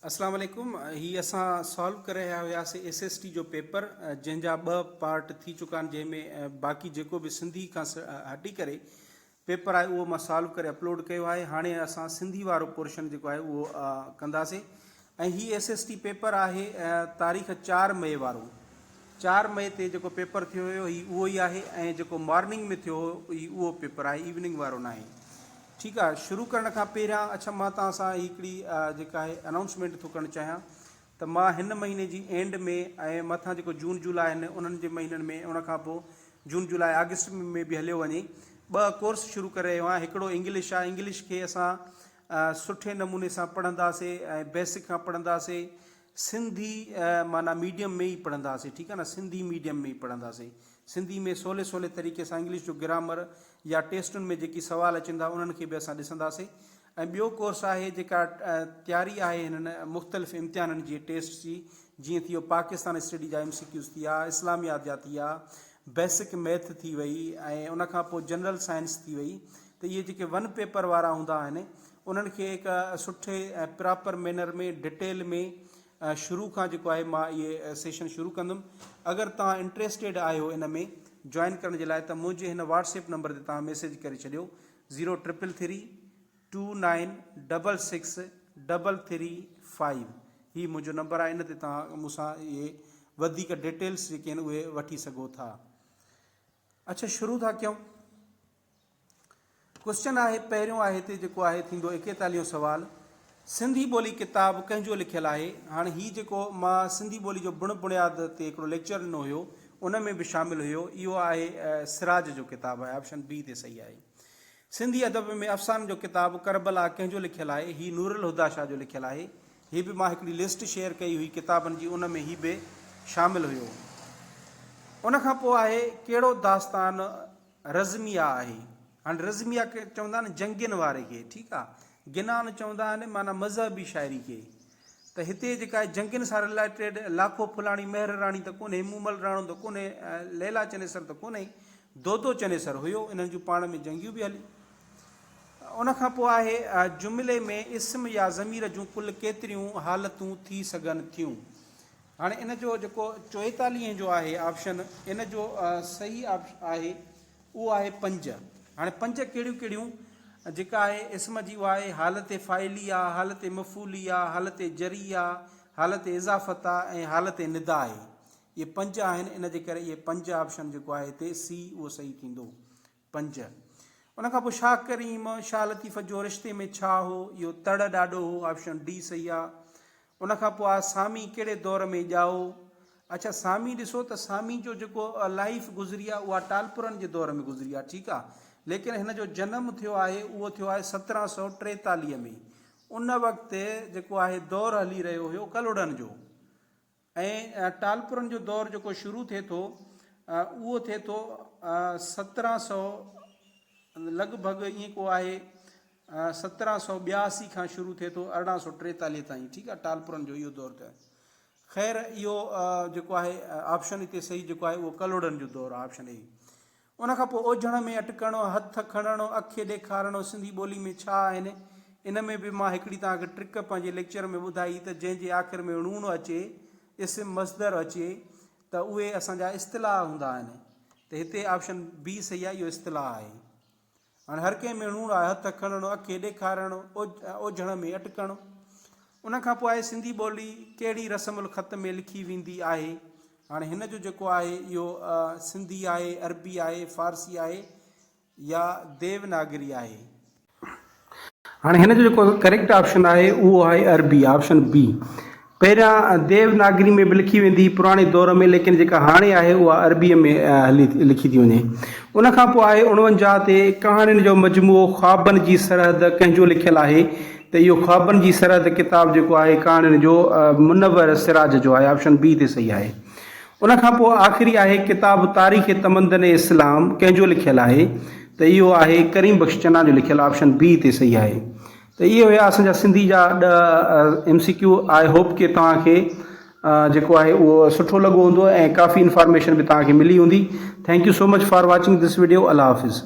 اسلام عليڪم هي اسان سالو ڪري رهيا هياسي ايس ايس ٽي جو پيپر جنهن جا ٻه پارٽ ٿي چڪا آهن جنهن ۾ باقي جيڪو به سنڌي کان هٽي ڪري پيپر آهي اهو مان سالو ڪري اپلوڊ ڪيو آهي هاڻي اسان سنڌي وارو پورشن جيڪو آهي اهو ڪنداسي ۽ هي ايس ايس ٽي پيپر آهي تاريخ چار مئي وارو چار مئي تي جيڪو پيپر ٿيو هيو هي اهو ئي آهي ۽ جيڪو مارننگ ۾ ٿيو هو هي اهو پيپر آهي ايوننگ وارو ناهي ٺيڪ آهي شروع ڪرڻ کان پهريان اڇا مان توهان سان هي هڪڙي جيڪا آهي انائونسمينٽ ٿو ڪرڻ چاهيان ته مان هن مهيني جي اينڊ ۾ ۽ مٿان جيڪو جون جولاء آهن انهن جي مهينن ۾ ان کان پوء جون جولاء آگسٽ ۾ به هليو وڃي ٻه ڪورس شروع ڪري رهيو آهيان هڪڙو انگلش آهي انگلش کي اسان سٺي نموني سان پڙهنداسي ۽ بيسڪ کان پڙهنداسي سنڌي معنيٰ ميڊيم ۾ ئي پڙهنداسين ٺيڪ آهي نه سنڌي ميڊيم ۾ ئي پڙهنداسين سنڌي ۾ سولي سولي طريقي سان انگلش جو گرامر يا ٽيسٽن ۾ جيڪي سوال اچن ٿا انهن کي به اسان ڏسنداسين ۽ ٻيو ڪورس آهي جيڪا تياري آهي هنن مختلف امتحانن جي ٽيسٽس جي جيئن ٿي ويو پاڪستان اسٽڊي جا ايم سي ڪيوز ٿيا اسلاميات جا ٿيا بيسڪ ميٿ ٿي وئي ۽ ان کان پوء جنرل سائنس ٿي وئي ته اهي جيڪي ون پيپر وارا هوندا آهن انهن کي هڪ سٺي ۽ پراپر مينر ۾ ڊٽيل ۾ شروع کان جيڪو آهي مان اهي سيشن شروع ڪندم اگر توهان انٽريسٽيڊ آهيو ان ۾ جوائن ڪرڻ جي لاء ته منهنجي هن واٽسپ نمبر تي توهان ميسيج ڪري ڇڏيو zero triple three two nine double six double three five هي منهنجو نمبر آهي ان تي توهان مون سان اهي وڌيڪ ڊيٽيلس جيڪي آهن اهي وٺي سگهو ٿا اچ شروع ٿا ڪيون ڪوئسچن آهي پهريون آهي هتي جيڪو آهي ٿيندو ايڪيتاليهون سوال سنڌي ٻولي ڪتاب ڪنهن جو لکيل آهي هاڻ هي جيڪو مان سنڌي ٻولي جو بڻ بڻياد تي هڪڙو ليڪچر ڏنو هيو ان ۾ به شامل هيو اهو آهي سراج جو ڪتاب آهي آپشن بي تي صحيح آهي. سنڌي ادب ۾ افسانن جو ڪتاب ڪربلا ڪنهن جو لکيل آهي؟ هي نورالهديٰ شاهه جو لکيل آهي. هي به مان هڪڙي لسٽ شيئر ڪئي هئي ڪتابن جي ان ۾ هي به شامل هيو. ان کان پوء آهي ڪهڙو داستان رزميه آهي. هاڻي رزميه چوندا آهن جنگين واري کي ٺيڪ آ. گنان چوندا آهن معنيٰ مذهبي شاعري کي. ته هتي جيڪا آهي جنگين سان رلائيٽيڊ لاکو ڦلاڻي مهر راڻي ته ڪونهي مومل راڻو ته ڪونهي ۽ ليلا چنيسر ته ڪونهي دودو چنيسر هيو انهن جون پاڻ ۾ جنگيون به هليون ان کان پوء آهي جملي ۾ اسم يا ضمير جون ڪل ڪيتريون حالتون ٿي سگهن ٿيون هاڻي ان جو جيڪو چوئيتاليهين جو آهي آپشن ان جو صحيح آپشن آهي اهو آهي پنج. هاڻي پنج ڪهڙيون ڪهڙيون؟ جيڪا آهي اسم جي اها آهي حالت فاعلي آ، حالت مفعولي آ، حالت جري آ، حالت اضافت آ ۽ حالت ندا آهي. اهي پنج آهن ان جي ڪري اهي پنج آپشن جيڪو آهي هتي سي اهو صحيح ٿيندو. پنج. ان کان پوء شاهه ڪريم شاهه لطيف جو رشتي ۾ ڇا هو؟ اهو تڙ ڏاڏو هو آپشن ڊي صحيح آ. ان کان پوء سامي ڪهڙي دور ۾ ڄائو؟ اڇا سامي ڏسو ته سامي جو جيڪو لائيف گذري آهي اها ٽالپرن جي دور ۾ گذري آهي ٺيڪ آهي ليڪن هن جو جنم ٿيو آهي اهو ٿيو آهي سترهن سؤ ٽيتاليهه ۾ ان وقت جيڪو آهي دور هلي رهيو هيو ڪلهوڙن جو ۽ ٽالپرن جو دور جيڪو شروع ٿئي ٿو اهو ٿئي ٿو سترهن سؤ لڳ ڀڳ ائين ڪو آهي سترهن سؤ ٻياسي کان شروع ٿئي ٿو ارڙهن سؤ ٽيتاليهه تائين ٺيڪ آهي ٽالپرن جو اهو دور ته خير اهو جيڪو آهي آپشن هتي صحيح جيڪو آهي اهو ڪلهوڙن جو دور آهي آپشن اي ان کان پوء اوجهڻ ۾ اٽڪڻ هٿ کڻڻ اکي ڏيکارڻ سنڌي ٻولي ۾ ڇا آهن ان ۾ به مان هڪڙي توهان کي ٽرڪ پنهنجي ليڪچر ۾ ٻڌائي هئي ته جنهن جي آخر ۾ ڻوڻ اچي اسم مصدر اچي ته اهي اسان جا اصطلاح هوندا آهن ته هتي آپشن بي صحيح آهي اهو اصطلاح آهي هاڻي هر ڪنهن ۾ ڻوڻ آهي، هٿ کڻڻ، اکي ڏيکارڻ، اوجهڻ ۾ اٽڪڻ. ان کان پوء آهي سنڌي ٻولي ڪهڙي رسم الخط ۾ لکي ويندي آهي. هاڻي هن جو جيڪو آهي اهو سنڌي آهي، عربي آهي، فارسي آهي يا ديوناگري آهي. هاڻي هن جو جيڪو ڪريڪٽ آپشن آهي اهو آهي عربي آپشن بي پهريان ديو ناگري ۾ به لکي ويندي پراڻي دور ۾ ليڪن جيڪا هاڻي آهي اها عربي ۾ هلي لکي ٿي وڃي ان کان پوء آهي اڻونجاهه تي ڪهاڻين جو مجموعو خوابن جي سرحد ڪنهن جو لکيل آهي ته اهو خوابن جي سرحد ڪتاب جيڪو آهي ڪهاڻين جو منور سراج جو آهي آپشن بي تي صحيح آهي ان کان پوء آخري آهي ڪتاب تاريخ تمدن اسلام ڪنهن جو لکيل آهي ته اهو آهي ڪريم بخش چنا جو لکيل آپشن بي تي صحيح آهي ته اهي هيا اسان جا سنڌي جا ڏهه ايم سي ڪيو آء هوپ ڪي توهان کي جيڪو آهي اهو سٺو لڳو هوندو ۽ ڪافي انفارميشن به توهان کي ملي هوندي thank you so much for watching this video الله حافظ.